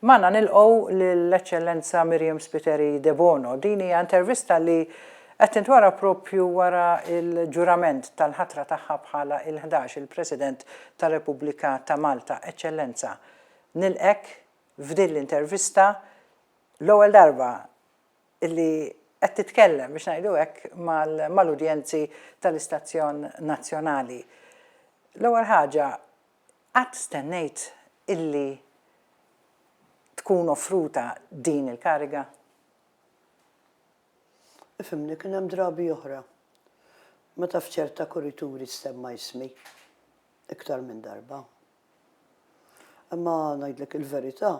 Magħna nilqgħu lil Eċċellenza Miriam Spiteri Debono. Din hija intervista li qed tintwara proprju wara l-ġurament tal-ħatra tagħha bħala il-ħdax il President tar-Repubblika ta' Malta. Eċċellenza, nilqgħek f'din l-intervista, l-ewwel darba li qed titkellem, biex ngħidu hekk, mal-udjenzi tal-istazzjon nazzjonali. L-ewwel ħaġa, Qatt stennejt illi tkun offruta din il-kariga? Ifhimni, kien hemm drabi oħra meta f'ċerta kurituri stemma ismi iktar minn darba. Imma ngħidlek il-verità,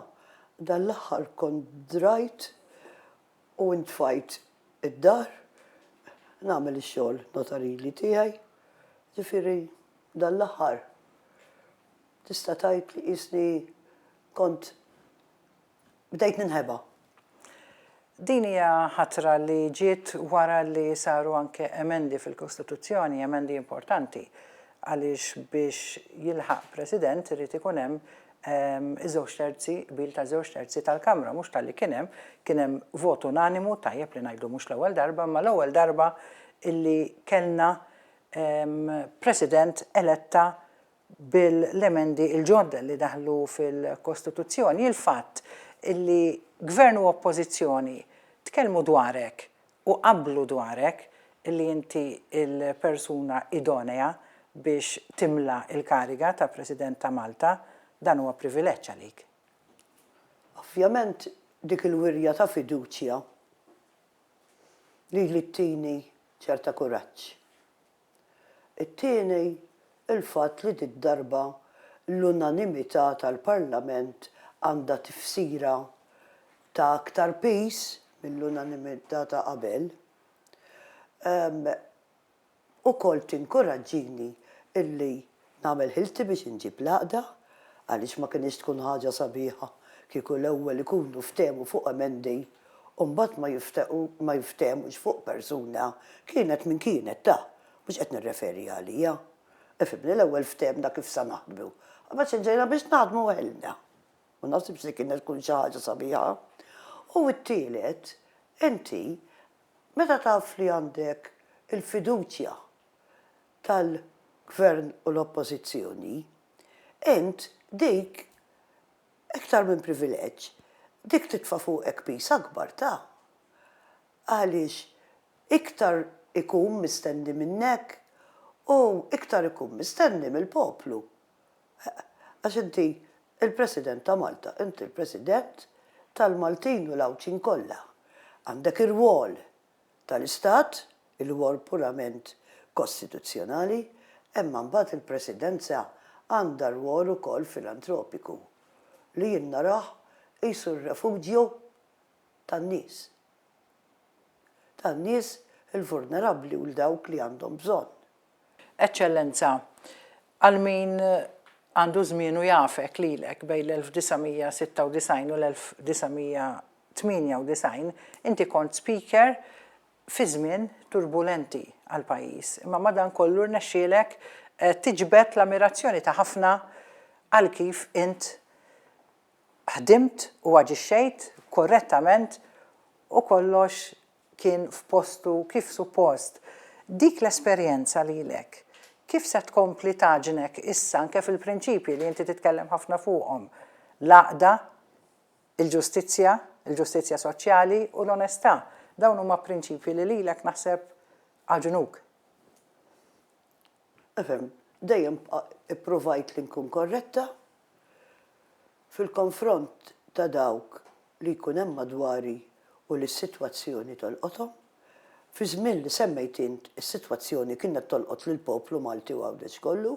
dan l-aħħar kont drajt u intfajt id-dar nagħmel ix-xogħol notarili tiegħi, ġifieri dan l-aħħar tista' tgħid li qisni kont bdejt ninħeba. Din hija ħatra li ġiet wara li saru anke emendi fil-Kostituzzjoni, emendi importanti, għaliex biex jilħaq President irid ikun hemm iż-żewġ terzi, qbil ta' żewġ terzi tal-Kamra, mhux talli kien hemm, kien hemm vot unanimu, tajjeb li ngħidu mhux l-ewwel darba, imma l-ewwel darba illi kellna President eletta bil-emendi l-ġodda li daħlu fil-Kostituzzjoni. Il-fatt illi Gvern u Oppożizzjoni tkellmu dwar hekk u qablu dwarek li inti l-persuna idonea biex timla l-kariga ta' President ta' Malta, dan huwa privileġġ għalik. Ovvjament dik il-wirja ta' fiduċja lili ttini ċerta kuraġġ It-tieni, il-fatt li did-darba l-unanimità tal-Parlament għandha tifsira ta' aktar piż mill-unanimità ta' qabel, ukoll tinkuraġġini illi Nagħmel ħilti biex inġib l-għaqda għaliex ma kinitx tkun ħaġa sabiħa kieku l-ewwel ikunu ftehmu fuq emendi u mbagħad ma jifthemux fuq persuna kienet min kienet ta', mhux qed nirreferi għalija. Ifhimni l-ewwel ftehmna kif sa naħdmu. Imbagħad xi ġejna biex naħdmu weħidna. Ma naħsibx li kienet tkun xi ħaġa sabiħa. U t-tielet, inti meta taf li għandek il-fiduċja tal-Gvern u l-Oppożizzjoni, int dik iktar minn privileġġ, dik titfa' fuqek piż akbar ta'. Għaliex iktar ikun mistenni minnek u iktar ikun mistenni mill-poplu. Għax inti l-President ta' Malta, inti l-President tal-Maltin u l-Għawdxin kollha. Għandek irwol. tal-Istat, il-rwol purament kostituzzjonali, imma mbagħad il-Presidenza għandha rwol ukoll filantropiku, li jien narah qisu r-refuġju tan-nies, tan-nies il-vulnerabbli u l-dawk li għandhom bżonn. Eċċellenza, għal min għandu żmien u jafek lilek bejn l-1996 u l-1998, inti kont Speaker fi żmien turbulenti għall-pajjiż, imma madankollu rnexxielek tiġbed l-ammirazzjoni ta' ħafna għal kif int ħdimt u aġixxejt korrettament u kollox kien f'postu kif suppost. Dik l-esperjenza lilek kif se tkompli tagħġnek issa anke fil-prinċipji li inti titkellem ħafna fuqhom, l-għaqda, il-ġustizzja, il-ġustizzja soċjali u l-onestà. Dawn huma prinċipji li lilek naħseb għaġnuk. Efhem, dejjem ippruvajt li nkun korretta fil-konfront ta' dawk li jkun hemm madwari u li s-sitwazzjoni tolqothom. Fiż-żmien li semmejt int, is-sitwazzjoni kienet tolqot lill-poplu Malti u Għawdex kollu.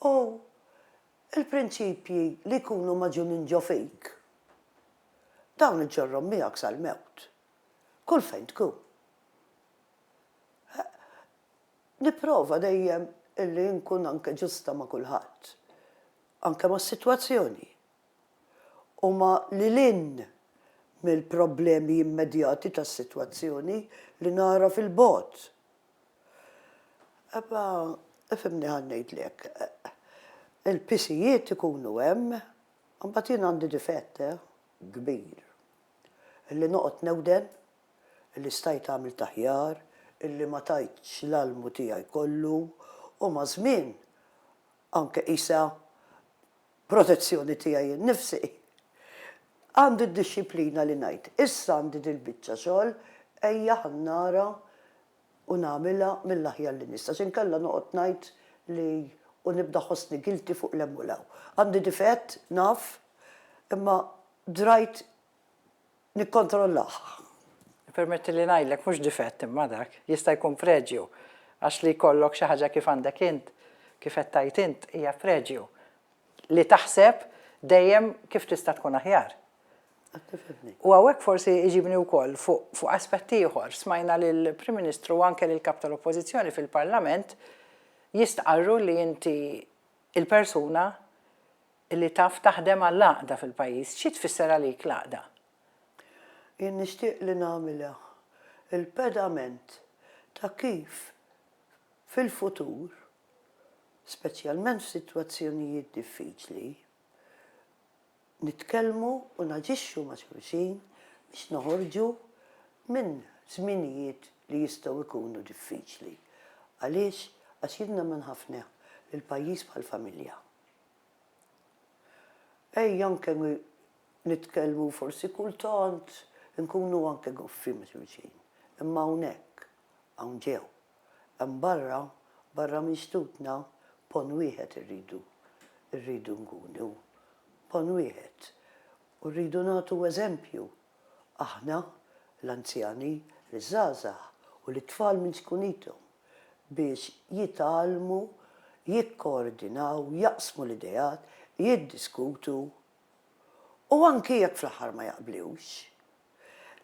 U l-prinċipji li jkunu magħġunin ġo fik, dawn iġġorrhom miegħek sal-mewt, kull fejn tkun. Nipprova dejjem illi nkun anke ġusta ma' kulħadd, anke mas-sitwazzjoni. Huma lil hinn mill-problemi immedjati tas-sitwazzjoni li nara fil-bogħod. Ebba, ifhimni ħa ngħidlek, il-pisijiet ikunu hemm, imbagħad jien għandi difett, eh, kbir, illi noqgħod newden li stajt għamilt aħjar, illi ma tajtx l-almu tiegħi kollu u maż-żmien anke qisha protezzjoni tiegħi nnifsi. Għandi d-dixxiplina li ngħid, issa għandi dil-biċċa xogħol, ejja ħa nara u nagħmilha mill-aħjar li nista' għax inkella noqgħod ngħid li u nibda ħossni guilty fuq 'l hemm u 'l hawn. Għandi difett, naf, imma drajt nikkontrollah. Ippermetti li ngħidlek, mhux difett imma dak, jista' jkun preġju, għax li jkollok xi ħaġa kif għandek int, kif qed tgħid int, hija preġju. Li taħseb dejjem kif tista' tkun aħjar. Qed tifhimni. U hawnhekk forsi iġibni wkoll fuq aspett ieħor. Smajna lill-Prim Ministru u anke lill-Kap tal-Oppożizzjoni fil-Parlament jistqarru li inti l-persuna li taf taħdem għall-għaqda fil-pajjiż. Xi tfisser għalik l-għaqda? Jien nixtieq li nagħmilha l-pedament ta' kif fil-futur, speċjalment f'sitwazzjonijiet diffiċli, nitkellmu u naġixxu ma' xulxin biex noħorġu minn żminijiet li jistgħu jkunu diffiċli. Għaliex? Għax jien nemmen ħafna li l-pajjiż bħall-familja. Ejja anke nitkellmu forsi kultant inkunu anke goffi ma' xulxin. Imma hawnhekk, hawn ġew. Hemm barra, barra minn xtutna, ponn wieħed irridu, irridu nkunu. Ponn wieħed. U rridu nagħtu eżempju aħna, l-anzjani, liż-żgħażagħ u lit-tfal minn zkunithom, biex jitgħallmu, jikkoordinaw, jaqsmu l-ideat, jiddiskutu u anki jekk fl-aħħar ma jaqblux.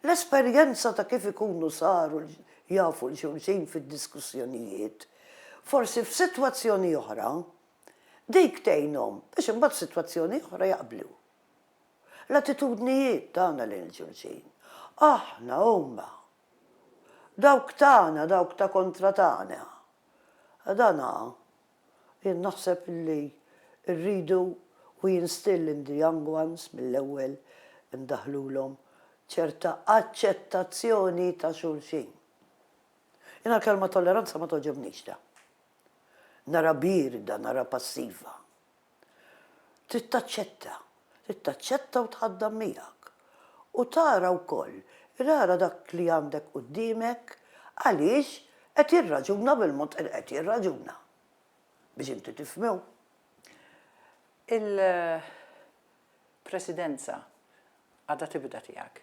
L-esperjenza ta' kif ikunu saru jafu 'l xulxin fid-diskussjonijiet, forsi f'sitwazzjoni oħra, dik tgħinhom biex imbagħad f'sitwazzjoni oħra jaqblu. L-attitudnijiet tagħna lejn xulxin. Aħna, huma. Dawk tagħna, dawk ta' kontra tagħna. Dan jien naħseb li rridu u jinstill in the young ones mill-ewwel indaħħlulhom ċerta aċċettazzjoni ta' xulxin. Jiena l-kelma tolleranza ma togħġobnix ta. Narha bierda, narha passiva. Trid taċċetta. Trid taċċetta u tħaddan miegħek. U tara wkoll, rara dak li għandek quddiemek għaliex qed jirraġuna bil-mod li qed jirraġuna. Biex inti tifhmu. Il-Presidenza għadha tibda tiegħek,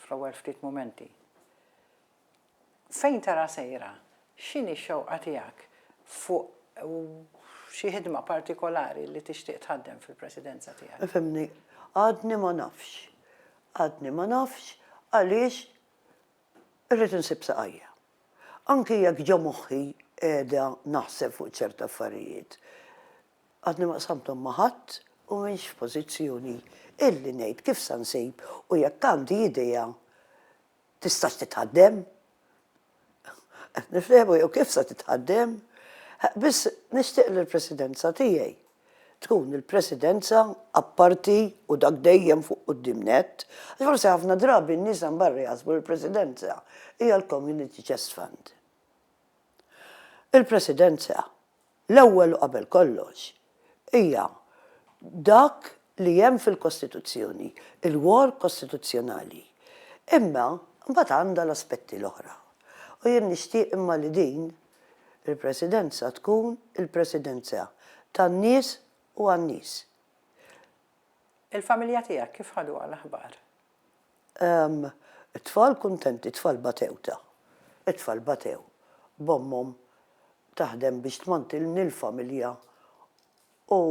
fl-ewwel ftit mumenti. Fejn tara sejra? X'inhi x-xewqa tiegħek fuq xi ħidma partikolari li tixtieq tħaddem fil-Presidenza tiegħek? Ifhimni, għadni ma nafx. Għadni ma nafx għaliex irrid insib saqajja. Anki jekk ġo moħħi qiegħda naħseb fuq ċerti affarijiet, għadni ma qsamthom ma' ħadd u m'iniex f'pożizzjoni illi ngħid kif sa nsib u jekk għandi idea Tistax titħaddem? Nifhmu jew kif sa titħaddem? Biss nixtieq li l-Presidenza tiegħi tkun il-Presidenza apparti u dak dejjem fuq quddiem nett, għax forsi ħafna drabi n-nies hemm barra jaħsbu li l-Presidenza hija l-Community Chest Fund. Il-Presidenza L-ewwel u qabel kollox, hija dak li hemm fil-Kostituzzjoni, il-war kostituzzjonali. Imma mbagħad għandha l-aspetti l-oħra. U jien nixtieq imma li din il-Presidenza tkun il-Presidenza tan-nies u għan-nies. Il-familja tiegħek kif ħaduha l-aħbar? Ehm, it-tfal kuntenti, it-tfal batew ta! It-tfal batew b'ommhom taħdem biex tmantilni l-familja u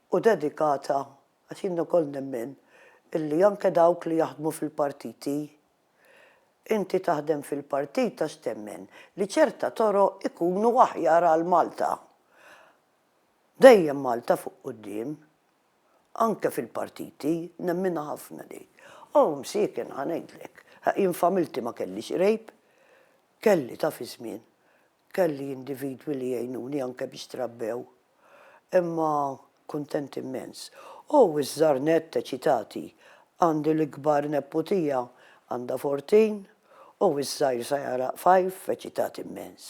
u dedikata, għax jien ukoll nemmen illi anke dawk li jaħdmu fil-partiti, inti taħdem fil-partit għax temmen li ċerta toroq ikunu aħjar għal Malta. Dejjem Malta fuq quddiem. Anke fil-partiti, nemminha ħafna din. O, msieken, ħa ngħidlek, jien f'għamilti ma kellix qrejb. Kelli, taf iż-żmien, kelli individwi li għinuni anke biex trabbew. Imma kuntent immens. O, iż-żgħar nett eċitati. Għandi l-ikbar nepputija, għandha 14, o, iż-żgħir sa jagħraq 5, eċitati mmens.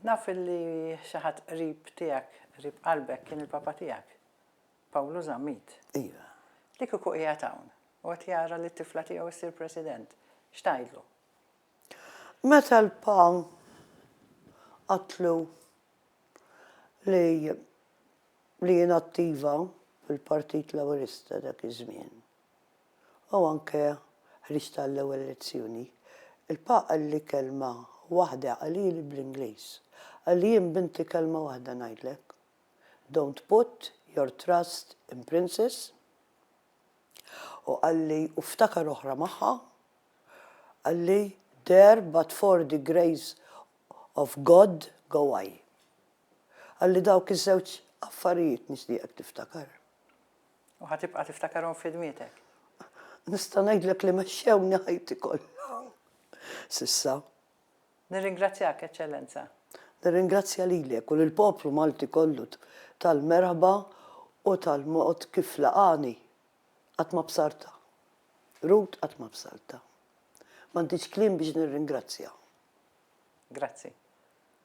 Naf li xi ħadd qrib tiegħek, qrib qalbek kien il-Papa tiegħek, Pawlu Zammit. Iva. Li kieku qiegħed hawn u qed jara li t-tifla tiegħu ssir President, x'tgħidlu? Meta l-Pa qatlu li li jien attiva fil-Partit Laburista dak iż-żmien. u anke ħriġt għall-ewwel lezzjoni, il-Papa qalli kelma waħda qalili bl-Ingliż, qalli jien binti kelma waħda ngħidlek, Don't put your trust in princes, u qalli, u ftakar oħra magħha, qalli, There but for the grace of God go I. Qalli dawk iż-żewġ affarijiet nixtieqek tiftakar. U ħa tibqa' tiftakarhom f'ħidmietek. Nista' ngħidlek li mexxewni ħajti kollha s'issa. Nirringrazzjak, Eċċellenza. Nirringrazzja lilek u lill-poplu Malti kollu tal-merħba u tal-mod kif laqagħni. Qatt ma bsartha. Ruth qatt ma bsartha. M'għandix kliem biex nirringrazzja. Grazzi.